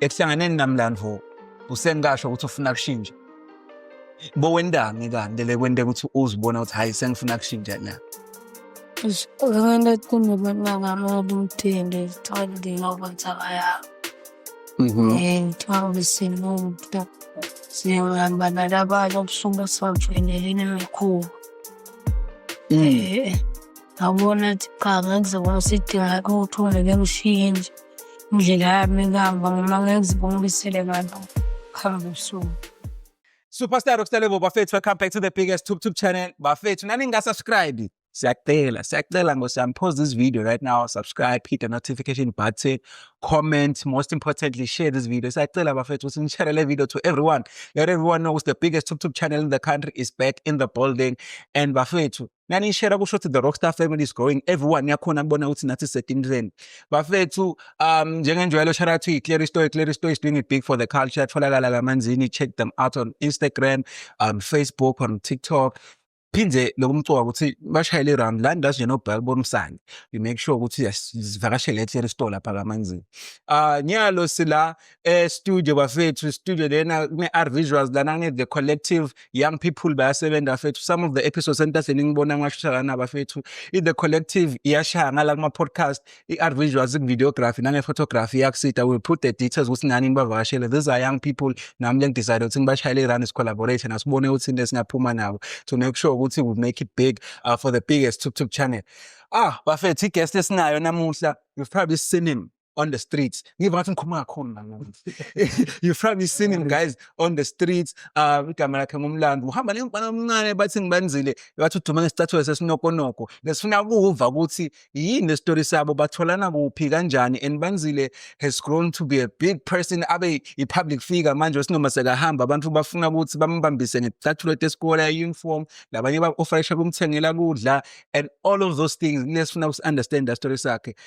Ekuhlanganeni namlandvo usenkasho ukuthi ufuna kushintsha. Bowendani kanti le kwente ukuthi uzibona ukuthi hayi sengifuna kushintsha la. Uzokwenda kunobona ngami obumthende ngithole ngoba ngithakaya. Mhm. Eh ngithole simuntu. Siyahamba nalabanye obusuke sibamfanele nemikhulu. Mm. Eh. ngabona ukuthi cha ngeke zibona sidinga ukuthi ungeke ngishiye nje indlela yami kuhamba ngoma ngeke zibona ubisele kanti kuhamba usuku Superstar Rockstar Level bafethu welcome back to the biggest tube tube channel bafethu nani nga subscribe siyacela siyacela ngosiyami pause this video right now subscribe hit the notification button comment most importantly share this video siyacela bafethu ukuthi nishare le video to everyone let everyone know the biggest tube tube channel in the country is back in the building and bafethu nanishera kusho ukuthi the rockstar family is growing everyone yakhona kubona ukuthi nathi sisetimhleni bafethu um njengenjwayelo shout out to iclear story iclear story is doing it big for the culture atholakala kamanzini check them out on instagram um facebook on tiktok phinde lokumcoka ukuthi bashayele round la ndazi nje nobhaka bomsane you make sure ukuthi sivakashele eclear store lapha kamanzini ah nyalo sila eh studio bafethu studio lena kune R visuals lana kune the collective young people bayasebenza bafethu some of the episodes entahleni ngibona ngashusha lana bafethu i the collective iyashaya ngala kuma podcast i R visuals in videography nange photography yakusita we put the details ukuthi nani nibavakashele these are young people nami le decide ukuthi ngibashayele i run collaboration asibone ukuthi into esingaphuma nabo to make sure ukuthi we make it big uh, for the biggest tube tube channel ah bafethu i guest esinayo namuhla you've probably seen him on the streets ngiva ngathi ngikhuluma kakhulu manje you probably seen him guys on the streets uh igama lakhe ngumlando uhamba nengibana omncane bathi ngibanzile bathi uduma ngesicathulo sesinokonoko lesifuna ukuva ukuthi yini le story sabo batholana kuphi kanjani and banzile has grown to be a big person abe i public figure manje sinoma sekahamba abantu bafuna ukuthi bambambise ngecathulo tesikole ya uniform labanye ba offer shop umthengela kudla and all of those things nesifuna uku understand the story sakhe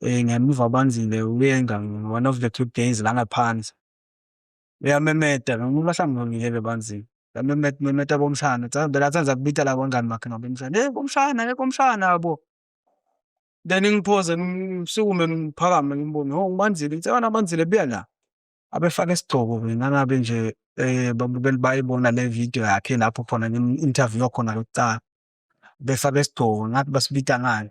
Eh, ngemuva ubanzile uyenga one of the two days la ngaphansi uyamemeda ngibahlangulile bebanzile yamemeda memeda bomshana vele athenza kubita la kwangani makhe ngabomshana hey bomshana hey bomshana yabo then ngiphoze ngisukume ngiphakame ngimbone ho ngibanzile ngithe wena banzile buya la abefake isigcobo ngangabe nje eh babukeli bayibona le video yakhe lapho khona ngim-interview khona lokucala befake isigcobo ngathi basibita ngani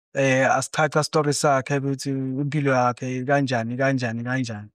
eh asichacha story sakhe ukuthi impilo yakhe kanjani kanjani kanjani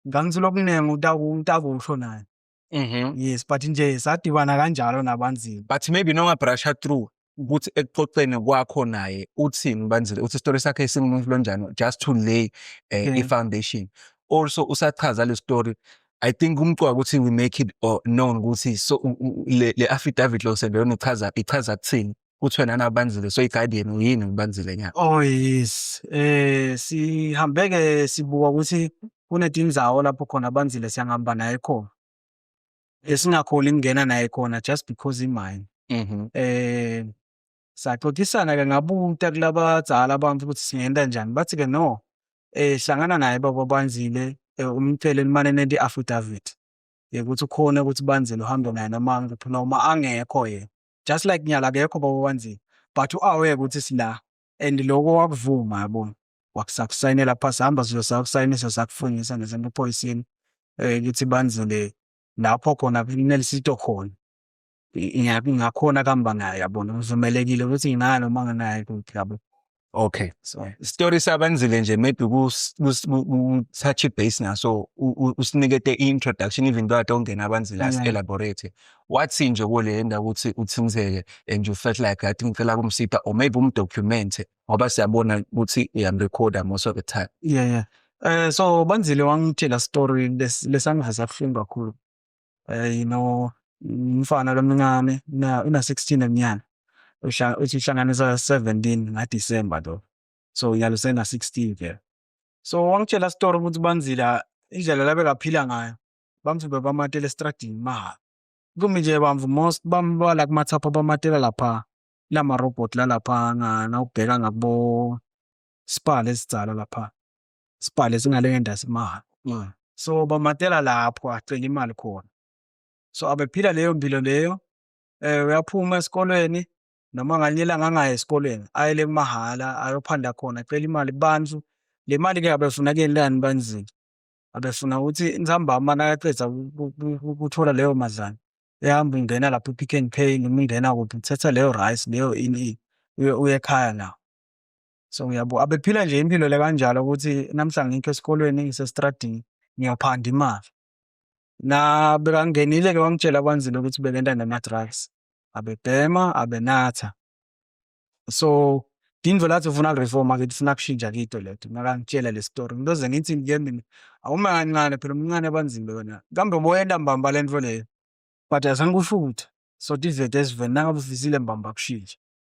ngangithola okuningi utakusho naye Mhm. yes but nje sadibana kanjalo nabanzima But maybe noma brusher through ukuthi ekuxoxeni kwakho naye uthini ubanzile uthi story sakhe singumuntu lonjani just to lay eh, Yeah. i-foundation. Also usachaza le story I think umqoka ukuthi we make it or known ukuthi so u- u- le, le affidavit lo sendeyona ichaza ichaza kuthini. kuthiwe nana ubanzile so i-guardian uyini ubanzile nyaka oh yes eh sihambe-ke sibuka ukuthi kunetimu zawo lapho khona abanzile siyangihamba naye khona esingakholi kungena naye khona just because imine mhm. eh saxoxisana-ke ngabuta kulabadzala abantu ukuthi singenta njani bathi-ke no eh hlangana naye baba banzile eh, umtshele limane nento i-affidavit yekuthi ukhona ukuthi banzile uhambe naye noma ngiphi noma angekho yena just like nyala akekho baba wanzima but u-aware ukuthi sila and loko wakuvuma yabona wakusakusayinela phasi hamba sizosakusayinisa sakufungisa ngezinto ephoyisini um eh, kithi banzile lapho khona kunelisito khona ngingakhona kamba naye yabona uvumelekile ukuthi nginayo noma nginayo kuphi yabo Okay. So story sabenzile nje maybe ku touch base na so usinikete introduction even though atongena abanzile as elaborate. Wathi nje kule ndawo ukuthi uthinzeke and you felt like that ngicela kumsipha or maybe umdocument ngoba siyabona ukuthi uyam recorder most of the time. Yeah yeah. Eh so banzile wangitshela story lesangaza kuhlungu kakhulu. eh, no umfana lomncane na una 16 eminyaka uthi uhlanganisa 17 nga December lo so yalo sena 16 vele so wangitshela story ukuthi banzila indlela labe kaphila ngayo bamthumbe bamatele estradini mahhala kumi nje bamvu most bambala kumathapha bamatela lapha lama robot lalapha ngana ubheka ngabo spal esidzala lapha sibhale singale ngendasi maha mm. so bamatela lapho acela imali khona so abephila leyo mpilo leyo eh uyaphuma esikolweni noma nganye ilanga angayi esikolweni ayele kumahhala ayophanda khona acela imali kubantu le mali ke abefuna kenilani banzima abefuna ukuthi inzambama nakaqeda ukuthola leyo madlana ehamba ungena lapho i-pick and pay noma ungena kuphi uthetha leyo rice leyo ini uye uye ekhaya nawo So uyabo abephila nje impilo le kanjalo ukuthi namhla ngikho esikolweni ngisestradini ngiyophanda imali. Na bekangenile ke wangitshela kwanzile ukuthi bekenta nama-drugs. Abebhema, abenatha. So Indvo lathi ufuna reform ake ufuna kushintsha kito lethu makangitshela le story ngiloze ngithi ngiye mina awuma kancane phela umncane abanzima yona kambe uboyenda mbamba lento leyo but azange kusho ukuthi so tivete esiveni nangabe ufisile mbamba kushintsha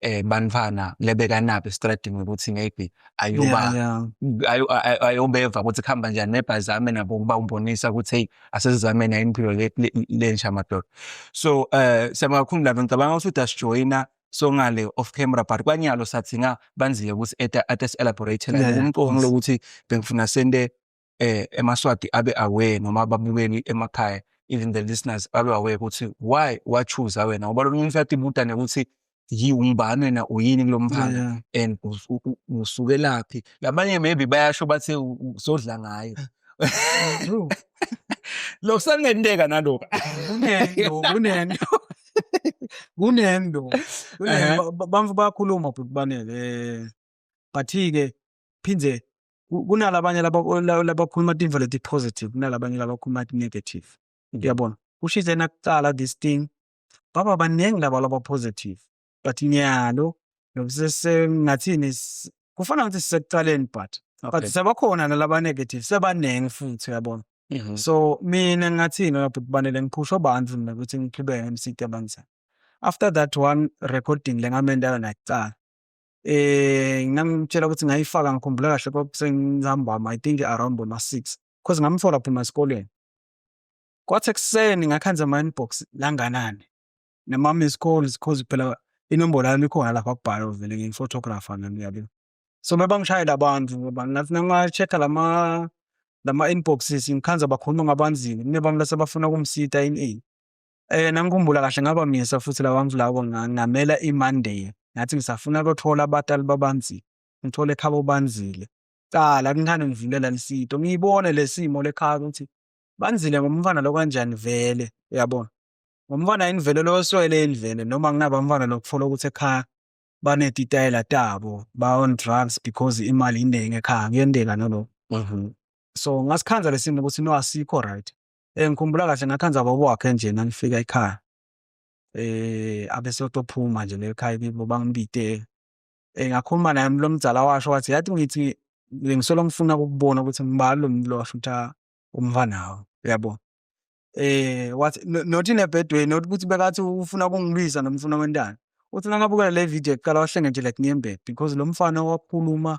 eh banifana lebekanaphi estradini ukuthi maybe ayoba ayobeva ukuthi kuhamba njani nebhazame nabo ukuba umbonisa ukuthi hey asizame nayo impilo lensha madoda so eh siyamakhulu labo ngicabanga ukuthi udasijoyina songale off camera but kwanyalo sathi nga banzile ukuthi at at elaborate la umqondo lokuthi bengifuna sende eh emaswati abe aware noma ababukeli emakhaya even the listeners babe aware ukuthi why wachuza wena ngoba lo muntu uyathi ibuta nekuthi yiwumbani wena uyini kulo mphanga and usukelaphi labanye maybe bayasho bathi usodla ngayo lokhu sanenteka naloko kunento kunento kunento bamfu bayakhuluma bhuti banele eh, but-ke phinde kunalabanye labakhuluma tinfo leti-positive kunalabanye labakhuluma ti-negative mm. uyabona kusho ithena kuqala this thing baba baningi laba laba-positive but nyalo ngathini kufana ukuthi sisekuqaleni but but sebakhona nalaba-negative sebaningi futhi uyabona mm-hmm. so mina ngathini uyabhuti banele ngiphusha abantu mina ukuthi ngiqhubeke emsidi abanjani after that one recording le ngamendayo nakuqala eh ngangitshela ukuthi ngayifaka ngikhumbula kahle kwakusengihambama i think around boma six cause ngamthola phuma esikoleni kwathi ekuseni ngakhanza ama inbox langanani nama-miss calls cause phela inombolo yami ikhona lapha kubhala vele ngiyi-photographer nami uyabona so mebangishayela abantu ngoba ngathi nangashekha lama lama-inboxes ngikhanza bakhuluma ngabanzima kunebami lase bafuna ukumsita in a Eh nangikhumbula kahle ngaba myesa futhi lawa mflawo ngamela iMonday. Ngathi ngisafuna ukuthola abatali babanzi. Ngithole ekhaya obanzile. Cala kunhane ngivulela lisito. Ngiyibone lesimo lekhaya ukuthi banzile ngomfana lo kanjani vele uyabona. Ngomfana yini vele lo oswele yini vele noma kunaba mfana lokufuna ukuthi ekhaya banetitayela tabo ba on drugs because imali iningi ekhaya kuyenteka nalokho. Mhm. So ngasikhandla lesimo ukuthi no asikho right. Eh ngikhumbula kahle ngathanda baba wakhe nje nangifika ekhaya. Eh abesotophuma nje le ekhaya kibo bangibite. Eh ngakhuluma naye lo mdzala washo wathi yathi ngithi ngisolo ngifuna ukubona ukuthi ngibani lo muntu lo washo ukuthi ah, umfanawo uyabo. Eh wathi no- not in a bad way not ukuthi bekathi ufuna ukungibiza noma ufuna kwentana. Uthi nakabukela le video kuqala wahlenge nje like niyembhe because lo mfana wakhuluma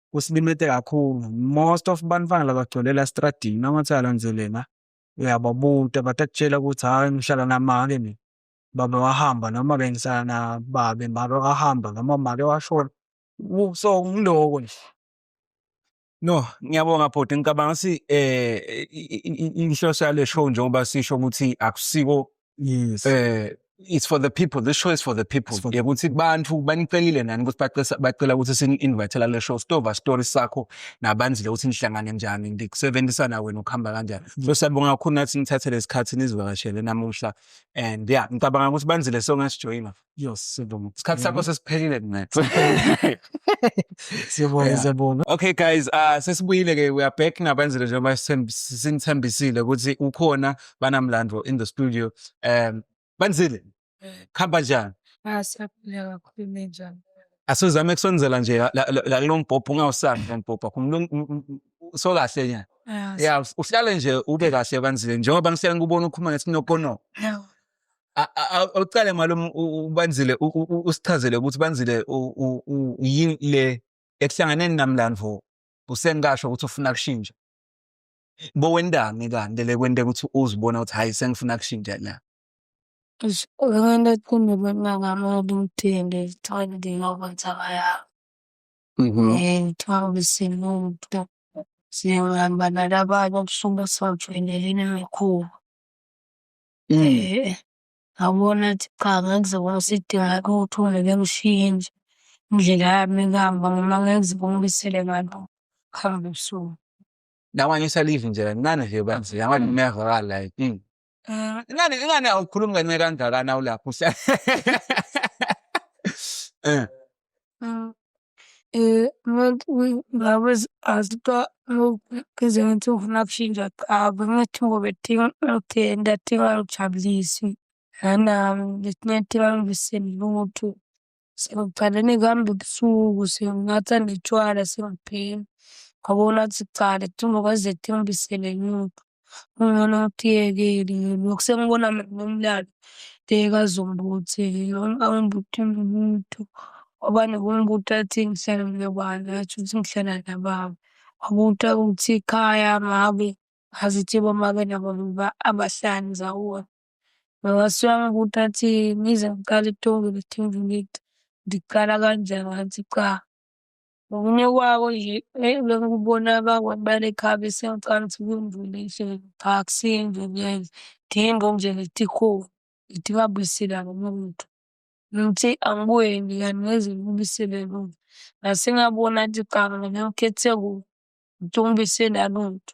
kusilimete kakhulu most of bantwana labagcwelela estradini nangathi uyalandzelela uyababuta batakutshela ukuthi hhayi ngihlala namake mina baba wahamba noma bengihlala nababe make wahamba noma make washona so ngiloko nje No, ngiyabonga bhuti. Ngicabanga ukuthi eh inhloso yale show njengoba sisho ukuthi akusiko yes eh it's for the people this show is for the people It's for the- yekuthi bantu banicelile nani ukuthi bacesa- bacela ukuthi sini-invitela le show sitova story sakho nabanzile ukuthi nihlangane njani ndikusebenzisana wena ukuhamba kanjani so siyabonga kakhulu nathi nithathele isikhathi nizivakashele namuhla and ya ngicabanga ukuthi banzile songasijoyina Yes, siyabonga. Isikhathi sakho sesiphelile kunetha. Siyabonga, Yeah. siyabonga. Okay guys, uh sesibuyile ke we are back ngabenzile njengoba sithemb- sinithembisile ukuthi ukhona banamlando in the studio. Um Banzile. Khamba njani? Ah, siyaphila kakhulu ninjani? Asizame kusonzela nje la- la la kulombhobho ungawusami lombhobho. Kumlung- m- m- m- So kahle nya. Ah, Yeah, uhlale nje ube kahle Banzile njengoba ngihlale ngikubona ukhuluma ngesinokono. siyaphila. awucale malume ubanzile usichazele ukuthi banzile yini le ekuhlanganeni namlandvo usengikasho ukuthi ufuna kushintsha bowendani kanti le kwente ukuthi uzibona ukuthi hhayi sengifuna kushintsha la Abantu athanda abantwana abakude ngizithole ngiyokwenza abaya Mhm. eh ngithole ubesimo umuntu siyahamba nalabanye okusuke sivakele lena mikhulu. Mm. Eh, ngabona ukuthi cha ngeke kuze kube sidingeka ukuthi ungeke ngishiye nje indlela yami kuhamba noma ngeke kuze kungibisele ngalo kuhamba ebusuku. Namanje usalive nje kancane nje banzi yamanje Mm. uyavakala la inkinga. Eh, ingane ingane awukhulumi kancane kangakana ulapho uhlala. Eh. ngabe azitwa ngenze ngathi ngifuna kushintsha cha bengathi ngoba edinga ngithenda adinga angijabulise nanami ngidinga adinga angivise lutho. Sengicale nekuhamba ebusuku senginatha notshwala sengibhema ngoba unathi cha akadingi ukwenza adinga angivise lutho. Kungcono ngikuyeke lokhu sengibona mina umlando tekazombuthi angibuthi muntu ngoba nokumbuthi athi ngihlala nobani athi uthi ngihlala nababa. Wabuthi ukuthi ikhaya ngabe ngazithi bomake nabo abahlali ndawonye. Mawasuke angibuthi athi ngize ngiqale ekuthomeni ngithi ngiqala kanjani ngathi cha. Okunye kwako nje eyi lokho kubona abakwa balekhabe siyaqala ukuthi kwimvula enhle phaksi imvula dimbo nje ngithi ho ngithi babuyisile abamuntu ngithi angibuye nje kanti ngeze ngibuyisele lutho nase ngabona athi qaka ngakhethe kuwo ngithi ungibuyisele alutho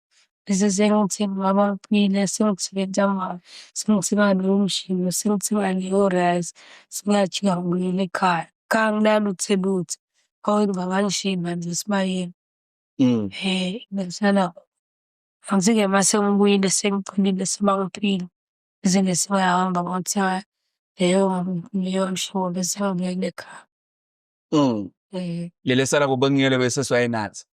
Bese sengithi ngibaba uphile, sengithi bentambama, sengithi bandla umshini, sengithi bandla o-rice, singajika ngibuyele ekhaya. Kanginalutho lutho, hhawu ngingakanishiyi manje esibayeni. Mm. Eh, ngihlala angithi-ke uma sengibuyile sengiphilile sebangiphile, bese nje sengiyahamba ngothiwa leyo leyo mshobo bese ngibuyele ekhaya. Mm. Eh, Leli esala kubengiyele bese siwayenathi.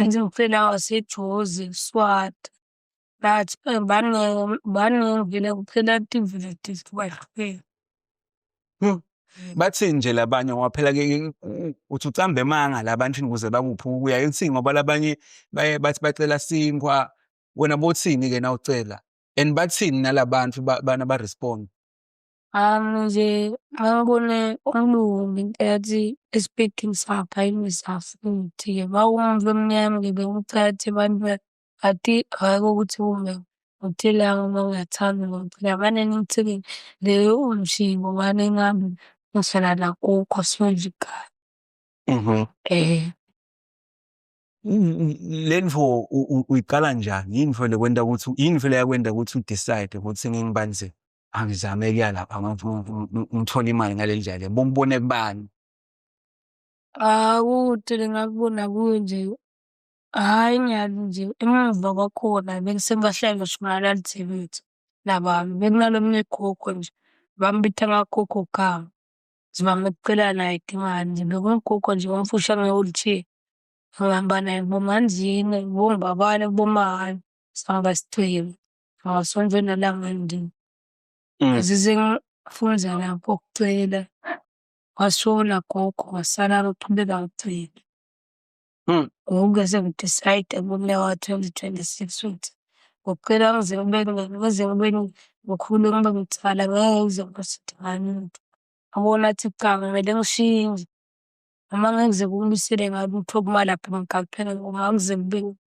Ngizofela waseJozi, Swati. But eh, baningi baningi vele kuphela tiveti kwahlukene. Hmm. Bathini nje labanye ngoba phela ke uthi ucambe emanga labantu ukuze bakuphi ukuya uthini ngoba labanye baye bathi bacela sinkwa wena bothini ke na ucela and bathini nalabantu bana ba respond Ami nje mangibone umlungu ngenkathi esiphethini sakhe ayimisa futhi-ke mawumva emnyama-ke bewumthathe abantu bathi hhayi kokuthi kume ngithele uma ungathandi ngomphila mane nithini le umshibo mane nami ngihlala nakukho sifundla igama. Mhm. Eh. Le nto uyiqala njani? Yini vele kwenta ukuthi yini vele yakwenta ukuthi u-decide ukuthi ngingibani nje? angizame kuya lapha ngithola imali ngale ndlela bongibone kubani Akude ngakubona kunje. Hhayi ngiyazi nje emuva kwakhona bengisengibahlala uSimalali TV nabami. Bekunalomunye ugogo nje, bambitha ngagogo Gama. Nje bamcela naye idingane nje. Bekuwugogo nje omfushane nge-wheelchair. Ngihamba naye kubomandlini, kubongibabala, kubomahhayi, sihamba sichema. Ngasonto nalanga nje. Mm. Zize ngafunza lapho ukucela. Wasona gogo wasala loqhubeka ngicela. Mm. Ngokuke sengidecide ngomnyaka wa-twenty twenty-six ukuthi ngicela ngize kube ngize kube ngikhule ngibe ngithwala ngeke ngize ngizosidingani muntu. Abona athi cha kumele ngishintshe. Noma ngeke ngize kumisele ngalutho okumalaphana ngigaqele ngoba akuze kube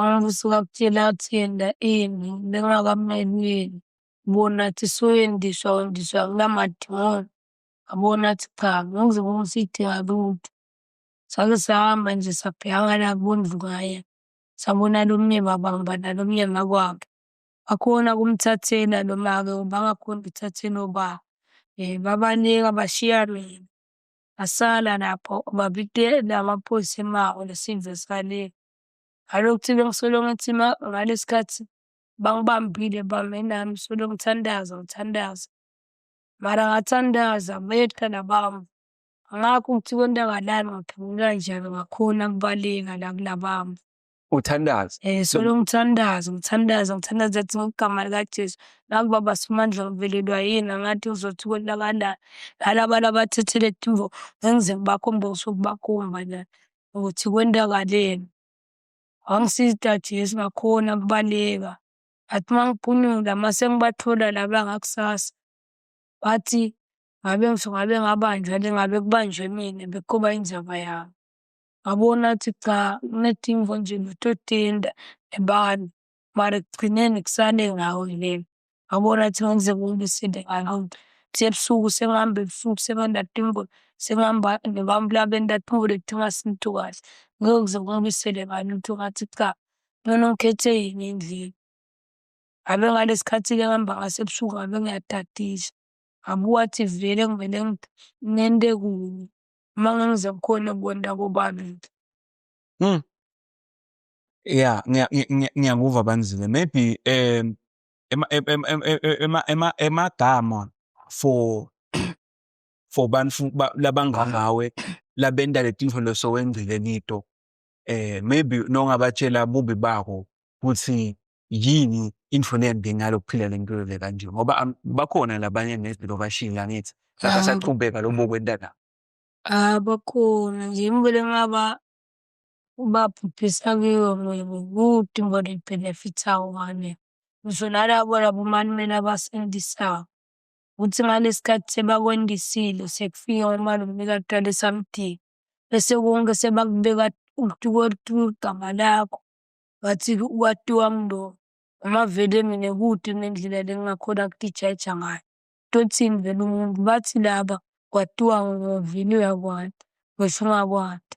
Angisuka kuthina athinda ini bengakamnenini bona athi soyendiswa wendiswa nginamadimoni abona athi cha ngikuze kungisidinga lutho sake sahamba nje sabhekana kubondlu ngaye sabona lo mnye baba ngoba nalo mnye makwabo bakhona kumthathela lo make ngoba angakhona ukuthathela obaba um babaningi abashiya mina ngasala lapho obaba ite namaphoyisa emawo nesizwe sikalile Ngalokuthinta ngisolo ngathi ma ngalesi khathi bangibambile bame nami solo ngithandaza ngithandaza. Mara ngathandaza beyehla nabami. Ngakho ukuthi kontakalani ngaphendula njani ngakhona kubaleka la kunabami. Uthandaza. Eh solo ngithandaza ngithandaza ngithandaza athi ngegama likaJesu. Naku baba Simandla ngivelelwa yini angathi uzothi kontakalani. Nalaba labathethele eTimbo ngengize ngibakhombe ngisuke ngibakhomba la. ukuthi kwenzakaleni. Wangisiza uDajesu ngakhona ukubaleka. Ngathi uma ngiphunyula uma sengibathola laba ngakusasa, bathi ngabe ngabe ngabanjwa le ngabe kubanjwe mina bekuba inzaba yami. Ngabona ukuthi cha kunedingo nje nototenda nebala. mara ekugcineni kusale ngawe le wabona ukuthi ngenzeka umuntu isinto engalonto sebusuku sengihamba ebusuku sengandada imbulo sengihamba nebami laba endada imbulo kudinga sintu kahle ngeke kuze kungibisele ngani ukuthi ungathi cha nona ngikhethe yini endlini ngabe ngalesi khathi-ke ngihamba ngasebusuku ngabe ngiyadadisa ngabe wathi vele ngivele ngente kunye uma ngangize ngikhone kubona kobabili mm. Yeah, ngiya- ngi- ngi- ngiyakuva Banzile. Maybe um ema ema ema ema ema emagama for for bantu ba- labangangawe labenta letinto lesowenzile kito. Eh maybe nongabatshela bubi bako ukuthi yini into lembi ngalokuphila lempilo le kanje ngoba am- bakhona labanye nezilo bashila ngithi Ah. basaqhubeka lobo kwenta la. Ah, bakhona nje ngibele ngaba ubabhubhisa kiyo mina kude ngoba ibhenefitha wona. Ngisho nalabo labo omalumeni abasendisayo ukuthi ngalesi khathi sebakwendisile sekufika umalume kaqala esamdinga bese konke sebakubeka ukuthi kwethiwa igama lakho ngathi kwatiwa mlo noma vele mina kude nendlela le ngingakhona kudijaja ngayo. Tothini vele umuntu bathi laba kwatiwa ngovinuya kwanda ngisho ungakwati.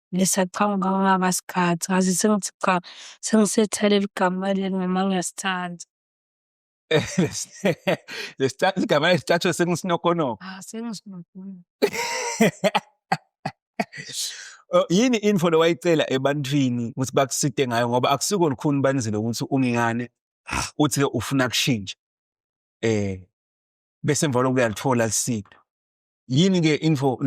ngisacabanga kungaba sikhathi ngaze sengithi cha sengisethela eligama leli noma ngiyasithanda. Lesithathu igama lesithathu sengusinokonoka. Ah sengusinokonoka. Oh, yini info lowayicela ebantwini ukuthi bakuside ngayo ngoba akusiko lukhuni banizile ukuthi ungingane uthi ke ufuna kushintsha. Eh bese emva lokho uyalithola lisiphi. yini ke info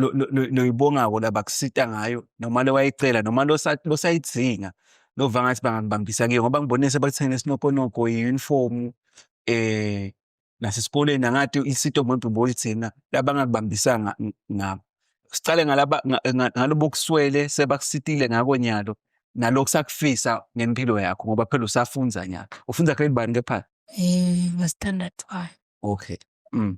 loyibongako labakusita ngayo noma lewayicela noma losayidzinga lova ngathi bangakubambisa kiyo ngoba ngibonise bakuthengele isinokonoko i-uniform eh nasesikoleni angathi isito muntu bolithina labangakubambisanga ngabo sicale ngalaba ngalobo kuswele sebakusitile ngako nyalo nalokhu sakufisa ngempilo yakho ngoba phela usafunda nyaka ufunda grade bani kepha eh standard 5 okay mm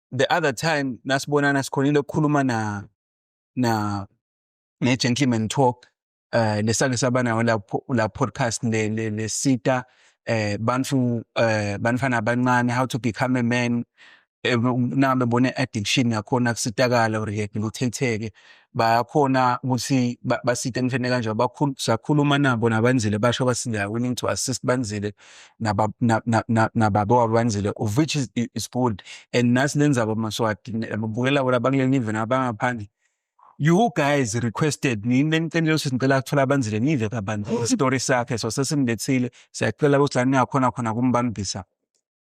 the other time nasibonana sikhonile ukukhuluma na na ne gentleman talk eh lesake sabanayo la la podcast le le, le sita eh bantu eh banfana abancane how to become a man eh, nami bone addiction yakhona kusitakala or ngithetheke bayakhona ukuthi basite ngifene kanjalo sakhuluma nabo nabanzile basho bathi they are willing to assist banzile nababo wabanzile of which is, is good and nasi lenzaba amaswati babukela bona bakuleli nive nabangaphandle you guys requested nini lenicela ukuthi ngicela kuthola abanzile nive kabanzi isitori sakhe so sesimlethile siyacela ukuthi la ningakhona khona kumbambisa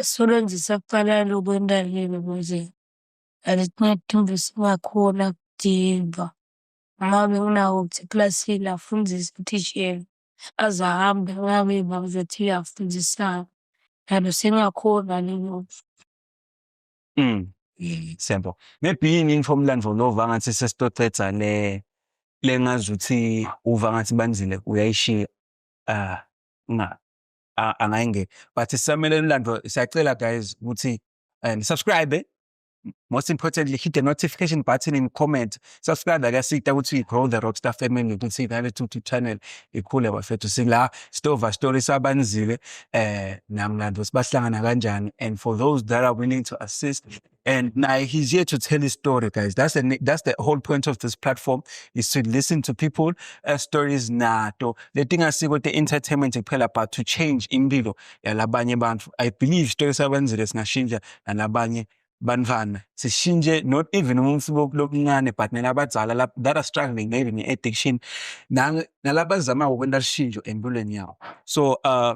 Usebenzisa kuqala lokhu entaleni ukuze alincedile singakhona kudinga. Uma bekunawo ukuthi ekilasini afundise uthishela aze ahambe angabi ukuthi afundisana. Kanti singakhona nalokhu. Mm. Siyabonga. Maybe yini into omlandvo lo uva ngathi sesitocedza le lengazuthi uva ngathi banzile uyayishiya. Ah, nga. angayingeni but sisamele umlando siyacela guys ukuthi um subscribe most importantly hit the notification button and comment subscribe akasita ukuthi grow the rockstar family ukuthi inale tutu channel ikhule bafethu sila stova story sabanzile eh namlando sibahlangana kanjani and for those that are willing to assist And now he's here to tell his story, guys. That's the that's the whole point of this platform is to listen to people uh, stories nato. The thing I see with the entertainment kuphela but to change impilo yalabanye bantu. I believe story sabenzile singashintsha nalabanye bantwana sishintshe not even umuntu lokuncane but nelabadzala that are struggling maybe ne-addiction nalabazamako kwenta lishintsho empilweni yawo so uh,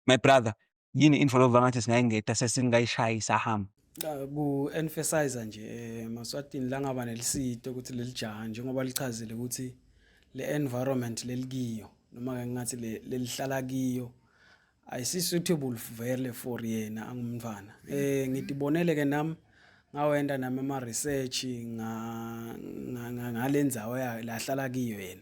my brother yini info lova ngathi singayingeda sesingayishayi sahamba Cha, ku-emphasize nje eh, Maswatini la ngaba nelisito ukuthi leli jaha njengoba lichazile ukuthi le environment lelikiyo noma ke ngathi le- lelihlala kiyo ayisi-suitable vele for yena angumntwana um ngidibonele ke nami ngawenda nami ama-research nga- nga- nga- ngale ndzawo ya- lahlala kiyo yena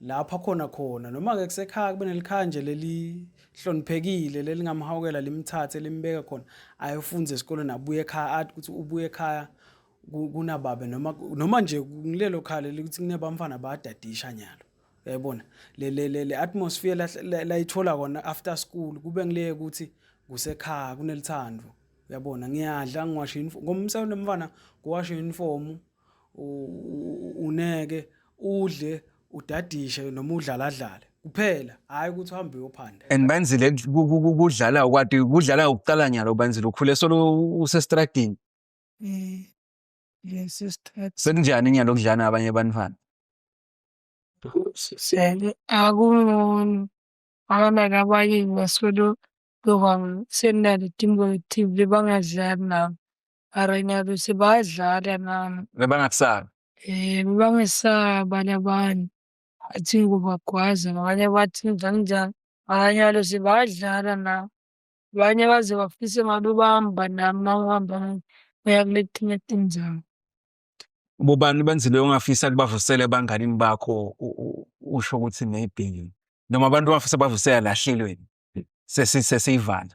lapha khona khona noma-ke kusekhaya kube nelikhaya nje lelihloniphekile lelingamhawukela limthathe limbeke khona ayofunza esikoleni abuye ekhaya athi ukuthi ubuye ekhaya kunababe noma noma nje ngilelo khaya leli ukuthi kunebamfana bayadadisha nyalo uyayibona le le le, le atmosphere layithola kona after school kube ngileke ukuthi kusekhaya kunelithando uyabona ngiyadla ngiwashe uniform ngomsebenzi mfana ngiwashe uniform uneke udle udadishe noma udlaladlale kuphela hhayi ukuthi uhambe uyophanda and banzile kudlala kwati kudlala ukuqala nyalo banzile ukhule solo usestradini um yes estradini sekunjani nyalo kudlana abanye abantwana sele akungcono akanake abanye ngasolo lokwa senale timbo tive bangadlali nabo Mara ngiyazi ukuthi bayadlala nami. Bebangakusabi? Eh, bebangesaba abanye abantu. Athi ngubagwaza ngabanye bathi njani njani. Abanye balo sebayadlala nami. Abanye baze bafise ngabe ubamba nami uma uhamba nami uya kuletinye tindzawo. Bobani benzile ongafisa kubavusela ebanganini bakho u- u- usho ukuthi maybe noma abantu abafisa bavusela lahlelweni sesi sesiyivala.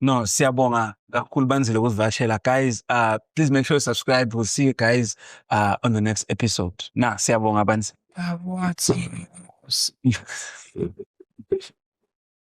No, siyabonga kakhulu banzile ukusivakashela guys. Uh, please make sure you subscribe. We'll see you guys uh, on the next episode. Na, siyabonga banzile. Awathi.